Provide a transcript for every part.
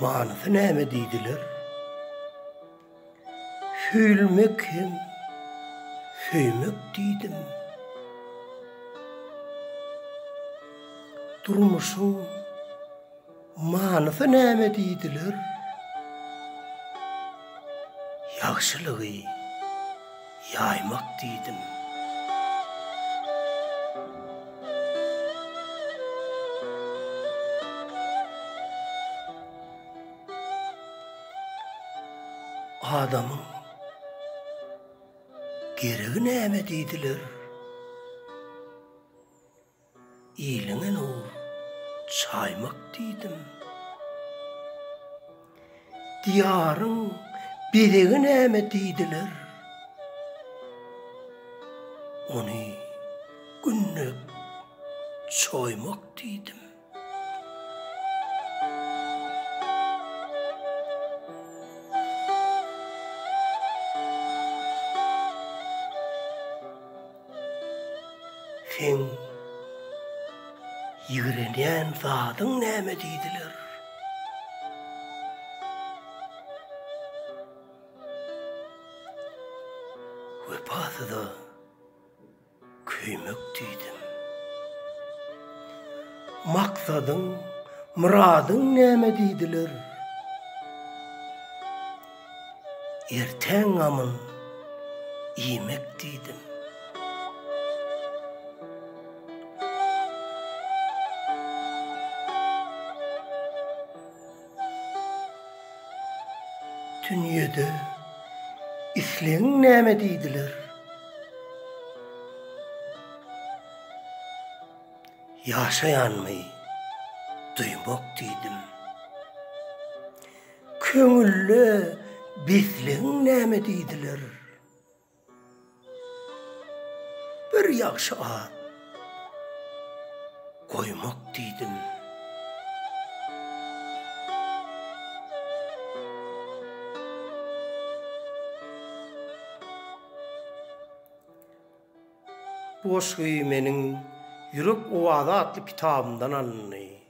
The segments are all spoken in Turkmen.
Manysy näme diýdiler? Söýülmek hem söýmek diýdim. Durmuşyň manysy näme diýdiler? Ýagşylygy. ýaýmak diýdim. Adamyň geregi näme diýdiler. Iliň alow çaýmak diýdim. Diýaryň bezegi näme diýdiler. Ony günde çoýmak diýdim. Seň ýigrenýän zadyň näme diýdiler? Wepasyz-a. Köýmek diýdim. Maksadyň, myradyň näme diýdiler. Ertäň gamyn iýmek diýdim. Dünýede islegiň näme diýdiler. Ýaşaýanmy duýmak diýdim. Köňülde beslegiň näme diýdiler. Bir ýagşy at goýmak diýdim. Bu goşgy meniň Ýürek owazy atly kitabymdan alyndy.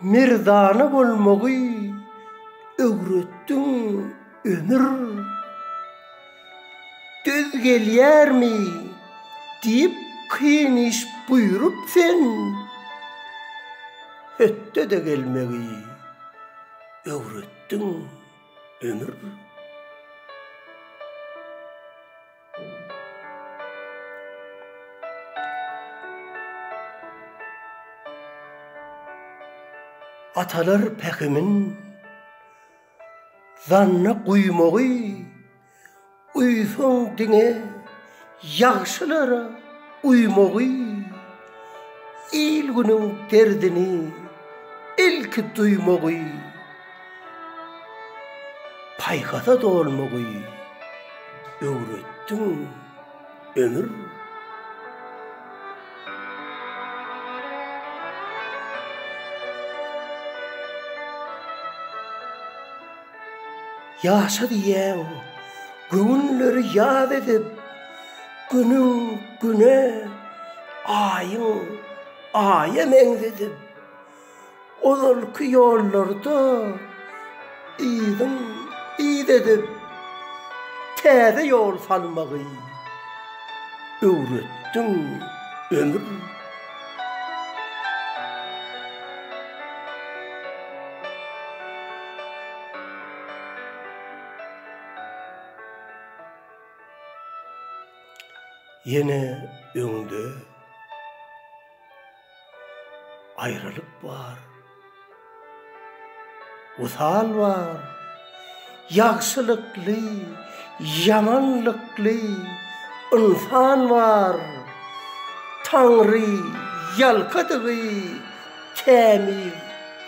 Merdana bolmagy öwretdiň ömür. Döz gelýärmi diýip kyn iş buýrup sen, Hötde-de gelmegi öwretdiň ömür. Atalar pähimin zanna guýmagy guýsaň diňe ýagşylara uýmagy. Il-günüň derdini ilki duýmagy, paýhasa dolmagy öwretdiň, ömür. Ýaşa diýýän göwünleri ýat edip, Günüň güne, aýyň aýa meňzedip, Ozalky ýollarda yzyň yz edip, Täze ýol salmagy öwretdiň, ömür. Ýene öňde aýralyk bar. Wysal bar. Ýagşylykly, ýamanlykly ynsan bar. Taňry ýalkadygy kämil,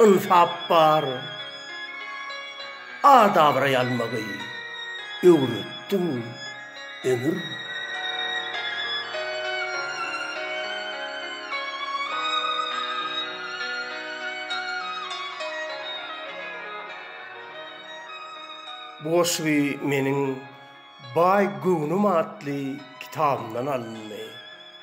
ynsap bar. Ad-abraý almagy öwretdiň, ömür. Bu goşgy meniň Baý göwnüm atly kitabymdan alyndy.